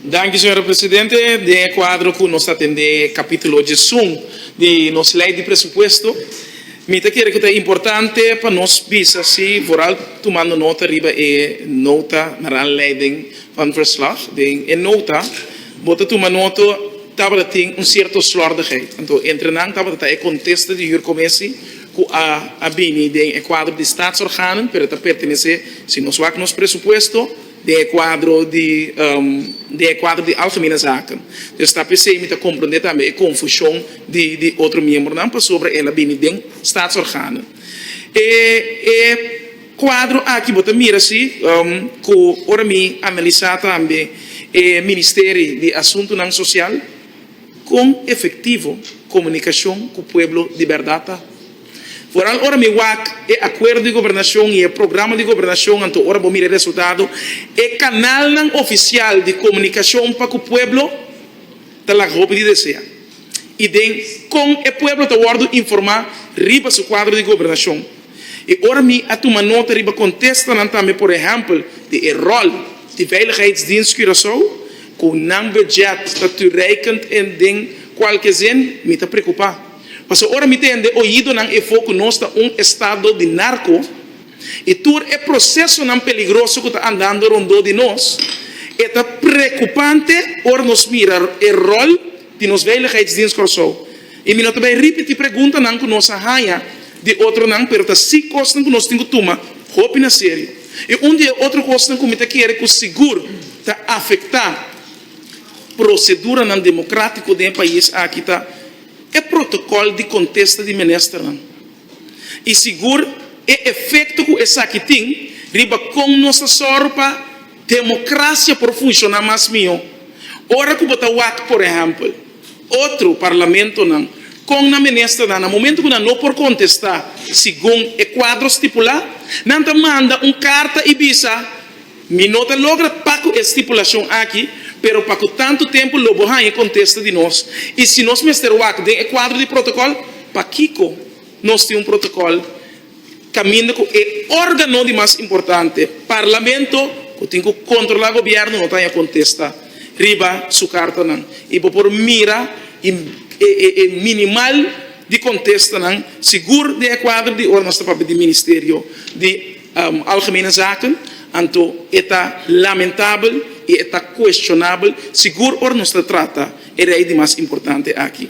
Danki, señora Presidente. Den e kuadro ku nos ta tende kapítulo djesun di nos lei di presupuesto, mi ta kere ku ta importante pa nos bisa si voral tumando nota riba e nota Naranleiding van Verslag. Den e nota bo ta tuma nota tabata tin un sierto slordigheid. Anto entre nan tabata ta e kontesta di Hurcommessie. cu a a bini den e cuadro di Staatsorganen, pero ta pertenece, si nos wak nos presupuesto, den e cuadro di den e cuadro di Algemene Zaken. Dus ta p'esey mi ta comprende tambe e confusion di di otro miembronan pasobra el a bini den Staatsorganen. E e cuadro aki bo ta mira si cu ora mi analisa tambe e Ministeri di Asuntonan Social, Kon efektivo komunikashon ku pueblo di bèrdat ta? Foral ora mi wak e akuerdo di gobernashon i e programa di gobernashon anto ora bo mira e resultado, e kanalnan ofisial di komunikashon pa ku pueblo ta laga hopi di desea. I den kon e pueblo ta wòrdu informá riba su kuadro di gobernashon? E ora mi a tuma nota riba contestanan tambe por ehempel di e rol di Veiligheidsdienst Curaçao cu nan budget ta toereikend en den cualke zin mi ta preocupa pasobra ora mi tende oidonan e fo cu nos ta un estado di narco y tur e procesonan peligroso cu ta andando rondó di nos e ta preocupante ora nos mira e rol di nos Veiligheidsdienst Curaçao. I mi no ta bay ripití preguntanan ku nos a haña di otronan, pero ta si kosnan ku nos tin ku tuma hopi na serio. I un di e otro kosnan ku mi ta kere ku sigur ta afektá proseduranan demokratiko den e pais aki ta e protokòl di kontesta di ministernan. i sigur e efekto ku esaki tin riba kon nos ta sòru pa demokrasia por funshoná mas mihó. Ora ku bo ta wak, por ehèmpel, otro parlamentonan kon nan ministernan na momentu ku nan no por kontestá segun e kuadro stipulá, nan ta manda un karta i bisa, Mi no ta logra pa cu e stipulacion aki, pero pa cu tanto tempo lo bo haña contesta di nos? Y si nos mester wak den e cuadro di protocol, pakico nos tin un protocol caminda cu e organo di mas importante, Parlamento, cu tin cu controla gobierno no ta haña contesta riba su cartanan? Y bo por mira e minimal di contestanan sigur den e cuadro di ora nos ta papia di Ministerio di. Algemene Zaken, anto e ta lamentabel i e ta kueshonabel sigur ora nos ta trata e rei di mas importante aki.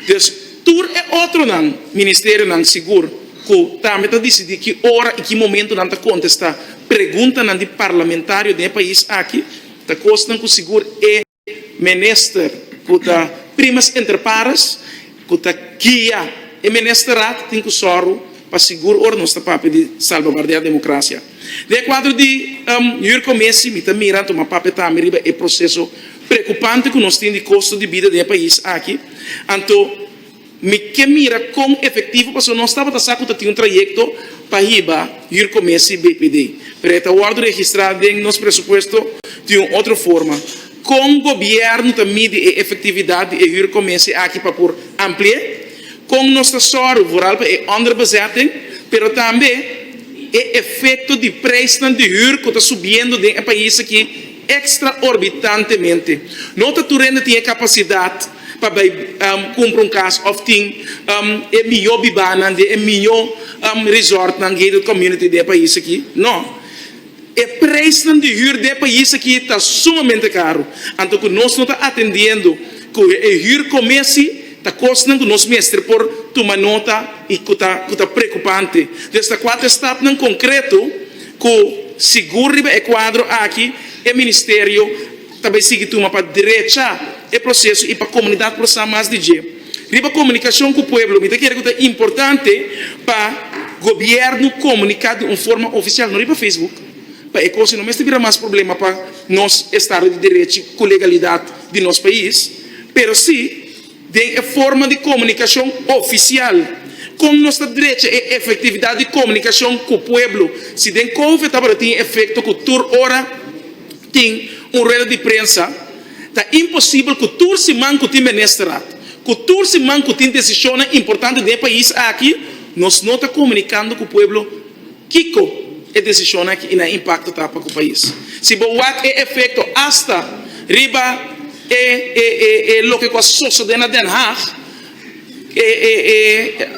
Des tur e otronan ministerionan sigur ku tambe ta disidí ki ora i ki momentu nan ta kontestá preguntanan di parlamentario den e pais aki, ta kosnan ku sigur e. Minister ku ta primas entre pares ku ta guia e Ministerat tin ku sòru pa sigur ora nos ta papia di salbaguardiá demokrasia. Den e kuadro di Jurko Mesi mi ta mira tuma papia tambe riba e proseso preokupante ku nos tin di kosto di bida den e pais aki, anto. Mi ke mira kon efektivo pasobra nos tabata sa ku ta tin un trayekto pa hiba Huur Komesi BPD, pero e ta wòrdu registrá den nos presupuesto di un otro forma. Kon gobièrnu ta midi e efektividat di e Huur Komesi aki pa por ampli'é? Kon nos ta sòru vooral pa e onderbezetting, pero tambe e efekto di preisnan di huur ku ta subiendo den e pais aki? Extraorbitantemente, no ta tur hende tin e capacidad pa bay cumpra un cas of tin e mijo bibanan den e mijo resortnan, gated community, den e pais aki. No. E prijsnan di huur den e pais aki ta sumamente caro, anto cu nos no ta atendiendo cu e huur comesi ta cosnan cu nos mester por tuma nota y cu ta preocupante. Entonces ta cuatro stapnan concreto. Cu sigur riba e cuadro aki, e Ministerio ta bay sigui tuma pa drecha e proceso y pa comunidad por sa mas di dje. Riba comunicacion cu pueblo, mi ta kere cu ta importante pa Gobierno comunica di un forma oficial, no riba Facebook, pa e cos y no mester bira mas problema pa nos Estado di Derechi cu legalidad di nos pais, pero si. den e forma di komunikashon ofisial. Kon nos ta drecha e efektividat di komunikashon ku pueblo? Si den Kouve tabata tin efekto ku tur ora tin un rueda di prensa, ta imposibel ku tur siman ku tin Ministerat, ku tur siman ku tin desishonnan importante den e pais aki, nos no ta komunikando ku pueblo Kiko e desishon aki i nan impakto ta pa ku pais? Si bo wak e efekto asta riba e loke ku a sosodé na Den Haag,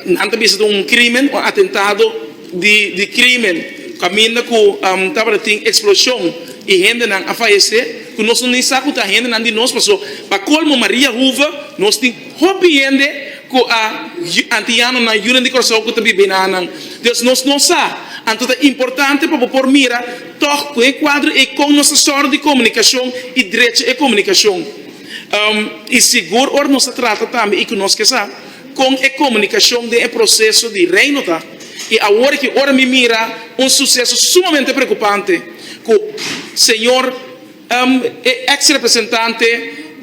nan ta bisa ta un krímen, un atentado di krímen, kaminda ku tabata tin eksploshon i hendenan a falesé ku nos no ni sa ku ta hendenan di nos, pasobra pa kolmo Maria Hoeve nos tin. Hopi hende ku a antianonan yunan di Kòrsou ku ta biba enanan. Dios nos no sa, anto ta importante pa bo por mira tòg ku e kuadro ei kon nos ta sòru di komunikashon i drecha e komunikashon. I sigur ora nos ta trata tambe i ku nos ke sa kon e komunikashon den e proseso di Reino ta. I awor aki ora mi mira un suseso sumamente preokupante ku Señor. E ex representante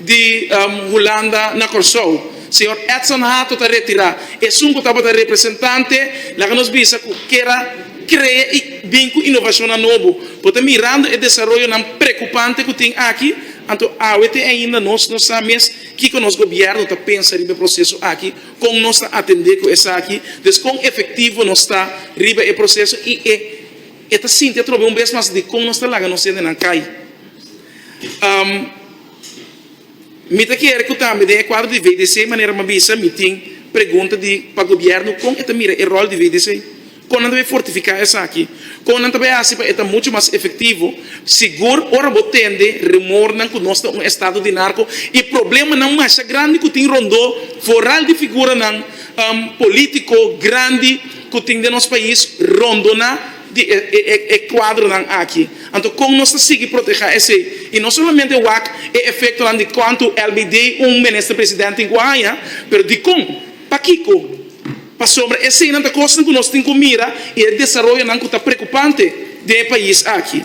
di Hulanda na Kòrsou, señor Edson Hato ta retirá. Esun ku tabata representante laga nos bisa ku kier a krea i bin ku inovashonnan nobo. Bo ta mirando e desaroyonan prekupante ku tin aki? Anto awe te ainda nos no sa mes kiko nos gobièrnu ta pensa riba e proseso aki, kon nos ta atendé ku esaki, des kon efektivo nos ta riba e proseso i e E ta sinti atrobe un bes mas dikon nos ta laga nos hendenan kai. Mi ta kere ku tambe den e kuadro di VDC, manera mi a bisa, mi tin pregunta di pa gobièrnu kon e ta mira e ròl di VDC. Kon nan ta bai fortifiká esaki? Kon nan ta bai hasi pa e ta muchu mas efektivo? Sigur ora bo tende rumornan ku nos ta un estado di narko i problemanan masha grandi ku tin rondó foral di figuranan polítiko grandi, ku tin den nos pais rondona di e kuadronan aki. Anto kon nos ta sigui protehá esei? I no solamente wak e efektonan di kuantu elbei dei un Minister President tin ku haña, pero dikon? Pakiko? Pasobra eseinan ta kosnan ku nos tin ku mira i e desaroyonan ku ta prekupante den e pais aki.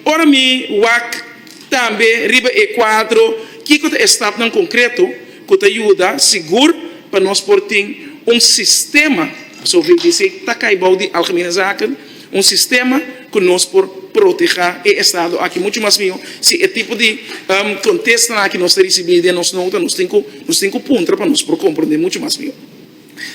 Ora mi wak. Tambe riba e kuadro Kiko ta e stapnan konkreto ku ta yuda sigur pa nos por tin un sistema, asof e disi ta kai bou di Algemene Zaken, un sistema ku nos por protehá e estado aki muchu mas mihó si e tipo di kontestanan aki nos ta risibí den nos nota nos tin ku nos tin ku puntra pa nos por komprondé muchu mas mihó.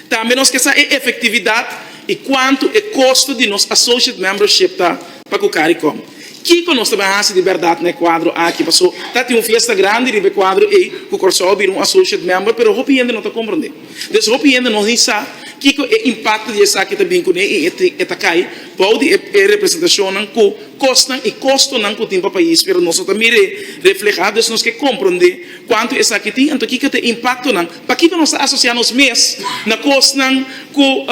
Tambe nos ke sa e efektividat i kuantu e kosto di nos Associate Membership ta pa ku Caricom. Kiko nos ta bin hasi di bèrdat na e kuadro aki? Paso ta tin un fiesta grandi riba e kuadro ei ku Kòrsou a bira un Associate Member, pero hopi hende no ta komprondé. Des hopi hende no ni sa kiko e impakto di esaki ta bin kuné i e ta kai bou di e representashonnan ku kosnan i kostonan ku tin pa pais, pero nos no ta mir'é reflehá. Des nos ke komprondé kuantu esaki tin, anto kiko ta e impaktonan? Pakico nos ta asocia nos mes na cosnan cu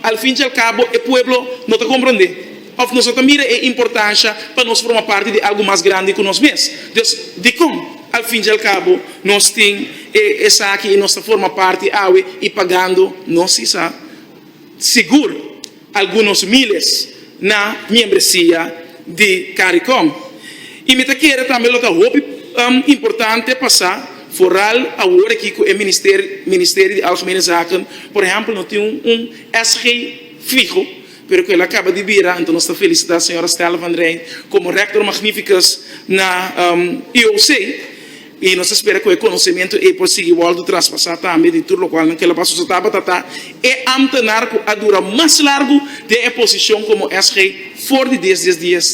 al fin y al cabo e pueblo no ta comprende? Of nos no ta mira e importancia pa nos forma parti di algo mas grandi cu nos mes? Dus, dicon al fin y al cabo nos tin e esaki y nos ta forma parti awe y pagando nos sisa? Sigur! algunos miles na miembresia di Caricom y mi ta kere tambe lo ta hopi importante pasa vooral awor aki cu e Ministerie di Algemene Zaken por ehempel no tin un SG fiho pero cu el a caba di bira enton nos ta felicita señora Stella Van Rijn como Rector Magnificus na IOC I nos ta spera ku e konosementu ei por sigui wòrdu traspasá tambe di tur lokual nan kelapá su sa tabata ta e ámtenar ku a dura mas largu den e posishon komo SG for di dies dies dies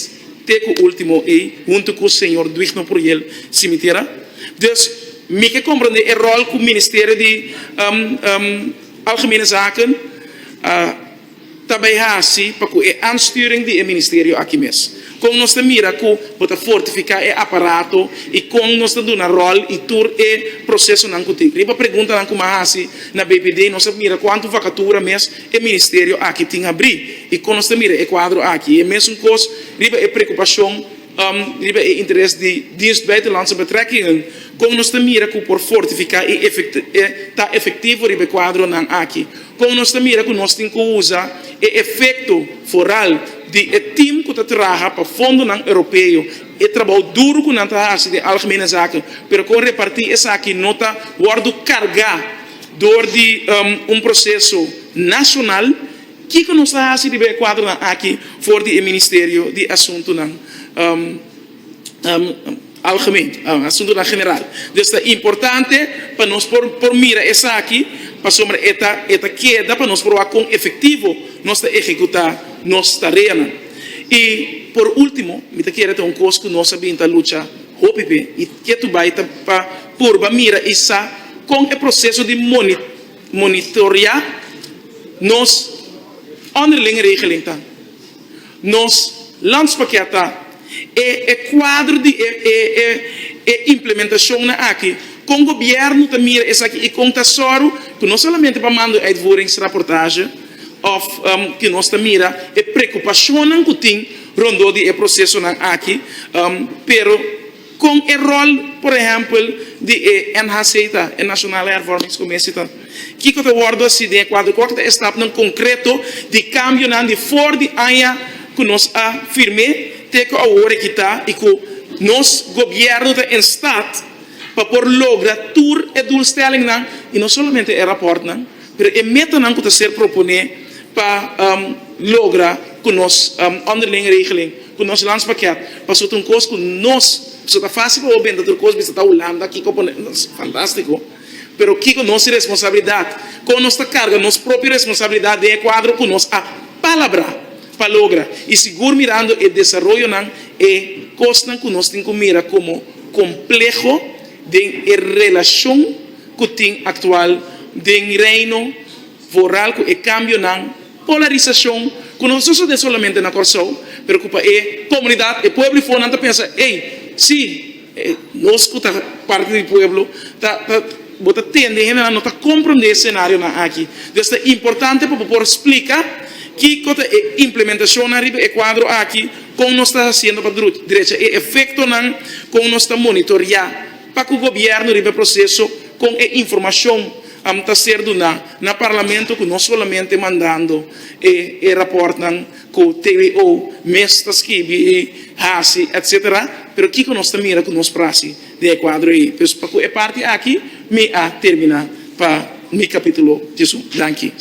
te ku último ei huntu ku señor Duignor Pruyel Simitera. Dus mi ke komprendé e ròl ku Ministerio di Algemene Zaken a. ta bai hasi pa ku e ansturing di e ministerio aki mes? Kon nos ta mira ku bo ta fortifiká e aparato i kon nos ta duna ròl i tur e prosesonan ku tin? Riba preguntanan ku mi a hasi na BPD nos a mira kuantu vakatura mes e ministerio aki tin abrí i kon nos ta mira e kuadro aki. E mesun kos riba e preokupashon riba e interes di Dienst Buitenlandse Betrekkingen, kon nos ta mira ku por fortifiká i ta efektivo riba e kuadronan aki? Kon nos ta mira ku nos tin ku usa e efekto foral di e tim ku ta traha pa fondonan Europeo, e trabou duru ku nan ta hasi den Algemene Zaken, pero kon repartí esaki no ta wòrdu kargá dor di un proseso nashonal? Kiko nos ta hasi riba e kuadronan aki for di e Ministerio di Asuntunan. algemeen, asuntunan general. Dus ta importante pa nos por por mira esaki pasobra e ta e ta keda pa nos por wak kon efektivo nos ta ehekutá nos tareanan. I por último mi ta kere ta un kos ku nos a bin ta lucha hopi p'e i ke tu bai ta pa purba mira i sa kon e proseso di moni monitoreá nos onderlinge regeling ta. Nos lands p'akí a ta e e kuadro di e e e e implementashonnan akí, kon gobièrnu ta mira esaki i kon ta sòru ku no solamente pa manda un uitvoeringsrapportage òf ku nos ta mira e preokupashonnan ku tin rondó di e prosesonan akí, pero. Kon e ròl, por ehèmpel, di e NHC ta, e Nasionale Hervormingscommissie ta? Kiko ta wòrdu hasi den e kuadro? Kua ku ta e stapnan konkreto di kambionan di for di aña ku nos a firm'é te ku awor e kita i ku nos Gobièrnu ta en stat pa por logra tur e doelstellingnan i no solamente e rapòrtnan pero e metanan ku ta ser proponé pa logra ku nos onderlinge regeling Ku nos lunch paket paso ta un kos ku nos paso ta fásil pa bo benta tur kos bisa ta Hulanda kiko por fantástiko pero kiko nos responsabilidat kon nos ta karga nos propio responsabilidat den e kuadro ku nos a palabrá pa logra i sigur mirando e desaroyonan e kosnan ku nos tin ku mira komo kompleho den e relashon ku tin aktual den Reino foral ku e kambionan Polarisashon ku no sosodé solamente na Kòrsou, pero ku pa e komunidat, e pueblo i for nan ta pensa, ey, sí, nos ku ta parti di pueblo ta ta bo ta tende hendenan no ta komprondé e senarionan aki. Entonces ta importante pa bo por splika kiko ta e implementashonnan riba e kuadro aki, kon nos ta hasiendo pa drecha e efektonan, kon nos ta monitoriá pa ku gobièrnu riba e proseso, kon e informashon. Am ta ser duná na Parlamento ku no solamente mandando e e rapòrtnan ku TWO mes ta skibi i hasi etc. Pero kiko nos ta mira ku nos prasi den e kuadro ei? Pues pa ku e parti aki mi a terminá pa mi kapítulo djesun. Danki.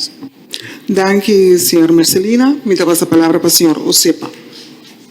Danki, señor Mercelina. Mi ta pasa palabra pa señor Osepa.